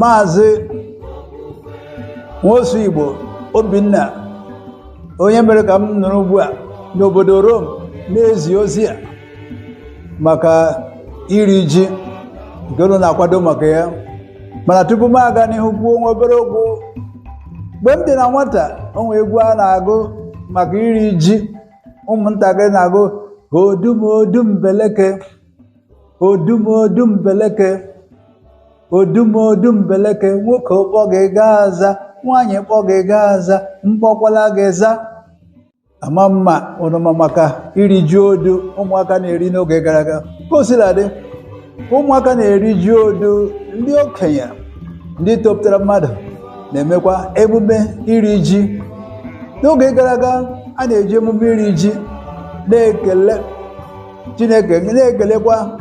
maazị nwosu igbo obinna onye mere ka m nọrọ ugbu a n'obodo rom na-ezi ozi a maka iri ji nke unu na-akwado maka ya mana tupu m aga n'ihu kwuo nwa obere okwu mgbe m dị na nwata o nwe egwu a na-agụ maka iri ji ụmụntakịrị na-agụ odum odum beleke odum odum beleke odum odum beleke nwoke kpọ gị gaa aza nwaanyị kpọ gị gaa aza m kpọkwala gị za ama m ma ụnụ ma maka iri ji odu ụmụaka na-eri n'oge gara aga ka o sila dị ụmụaka na-eri ji odu ndị okenye ndị topụtara mmadụ na-emekwa emume iri ji n'oge gara aga a na-eji emume iri ji na-ekele chineke na-ekelekwa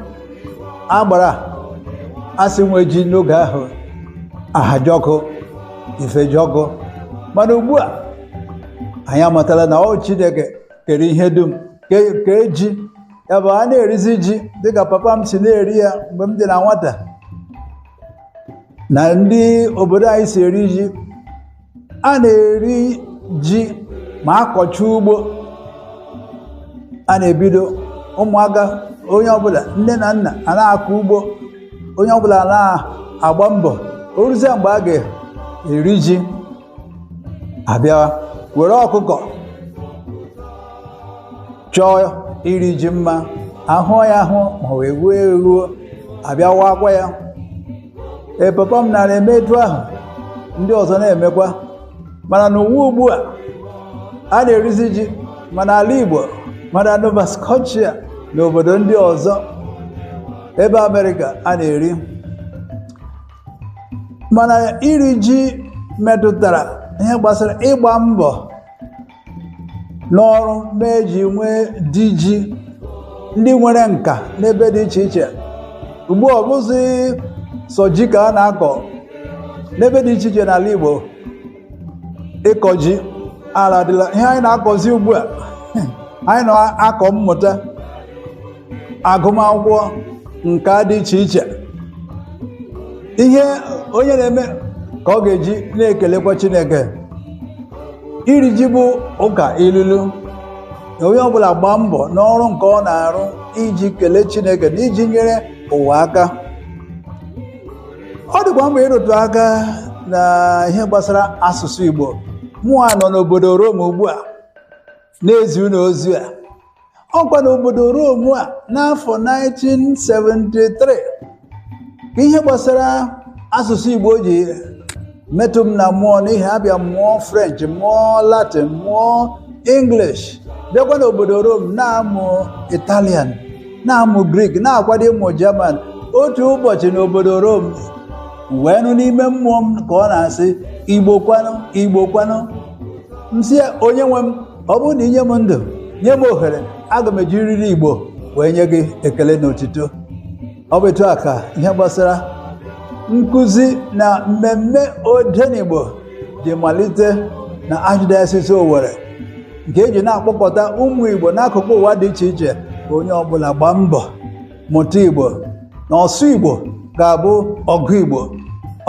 agbara a sị nwe ji n'oge ahụ ahajọkụ ifejọkụ mana ugbu a anyị amatala na ọ chineke kere ihe dum ke- kee ji ya bụ a na-erizi ji dịka papa m si na-eri ya mgbe m dị na nwata na ndị obodo anyị si eri ji a na-eri ji ma a kọcha ugbo a na-ebido ụmụaka onye ọbụla nne na nna a na-akọ ugbo onye ọbụla na-agba mbọ o ruzie mgbe a ga-eri ji a bịa were ọkụkọ chọọ iri ji mma a hụ ya ahụ ma wee ghuo eghuo a bịa wakwa ya ee papa m nara eme etu ahụ ndị ọzọ na-emekwa mana n'ụwa ugbu a a na-erizi ji ma n'ala Igbo ma na Nova Scotia na obodo ndị ọzọ ebe Amerịka a na-eri mana iri ji metụtara ihe gbasara ịgba mbọ n'ọrụ mee e ji nwee di ji ndị nwere nka n'ebe dị iche iche ugbu a ọ bụzi sọ ji ka a na-akọ n'ebe dị iche iche n'ala Igbo ịkọ ji aladịla ihe anyị na-akọzi ugbu a anyị na-akọ mmụta agụmakwụkwọ nka dị iche iche ihe onye na-eme ka ọ ga-eji na-ekelekwa chineke iri ji bụ ụka ilulu na onye ọbụla gbaa mbọ n'ọrụ nke ọ na-arụ iji kelee chineke na iji nyere ụwa aka ọ dịkwa mkpa ịrụtụ aka na ihe gbasara asụsụ igbo mụwa nọ n'obodo rom ugbu a na-ezi unu ozi a ọkwa n'obodo Roma n'afọ 1973 ka ihe gbasara asụsụ Igbo ji metụ m na mmụọ n'ihi abịa m mụọ French mụọ Latin mụọ English bịakwa n'obodo Rom na-amụ Italian na-amụ Grik na-akwado ịmụ German otu ụbọchị n'obodo Rom wee nụ n'ime mmụọ m ka ọ na-asị Igbo kwanụ Igbo kwanụ m sị ya onye nwe m ọ bụrụ na i nye m ndụ nye m ohere aga m ejiriri Igbo wee nye gị ekele na otito ọ bụ etu a ka ihe gbasara nkụzi na mmemme odenigbo ji malite na Archdiocese Owerri nke eji na-akpọkọta ụmụ Igbo n'akụkụ ụwa dị iche iche ka onye ọbụla gbaa mbọ mụta Igbo na ọsụ Igbo ga-abụ ọgụ Igbo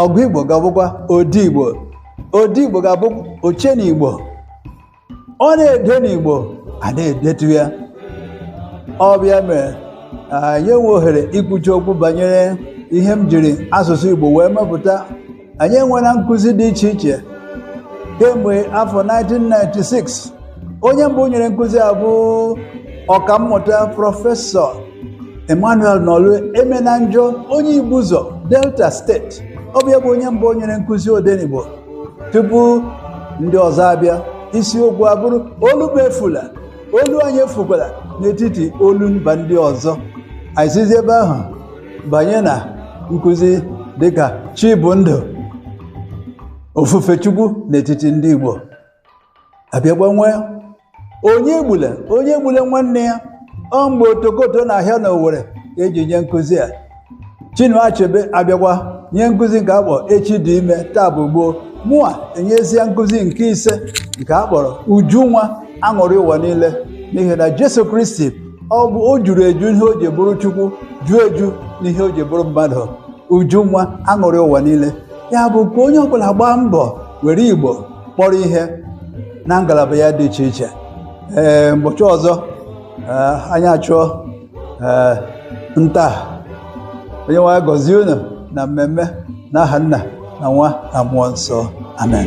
ọgụ Igbo ga-abụkwa ode Igbo ode igbo ga-abụ oche n'igbo ọ na-ede n'igbo a na-edetu ya ọ bịa mee anyị enwee ohere ikwucha okwu banyere ihe m jiri asụsụ igbo wee mepụta anyị enwela nkụzi dị iche iche kemgbe afọ 1996 onye mbụ nyere nkụzi a bụ ọkammụta prọfesọ Emmanuel Nolue Emenanjo onye Igbuzọ Delta steeti ọ bụ ya bụ onye mbụ nyere nkụzi odenigbo tupu ndị ọzọ abịa isiokwu abụrụ olu m efula olu anyị efukwala n'etiti olu mba ndị ọzọ anyị sizi ebe ahụ banye na nkụzi dịka chi bụ ndụ ofufe chukwu n'etiti ndị Igbo abịakwa nwee onye egbule onye egbule nwanne ya ọ mgbe otokoto na-ahịa na owere ka eji nye nkụzi a chinua achebe abịakwa nye nkụzi nke akpọ echi dị ime taa bụ gboo mụa enyezie nkụzi nke ise nke a kpọrọ uju nwa aṅụrị ụwa niile n'ihi na jesu kristi o juru eju ihe o ji bụrụ chukwu juo eju n'ihe o ji bụrụ mmadụ uju nwa aṅụrị ụwa niile ya bụ ka onye ọbụla gbaa mbọ were igbo kpọrọ ihe na ngalaba ya dị iche iche ee mbọchị ọzọ ee, anyị achụọ ee, nta onye nwe anyị gọzie unu na mmemme n'aha nna na nwa na mmụọ nsọ amen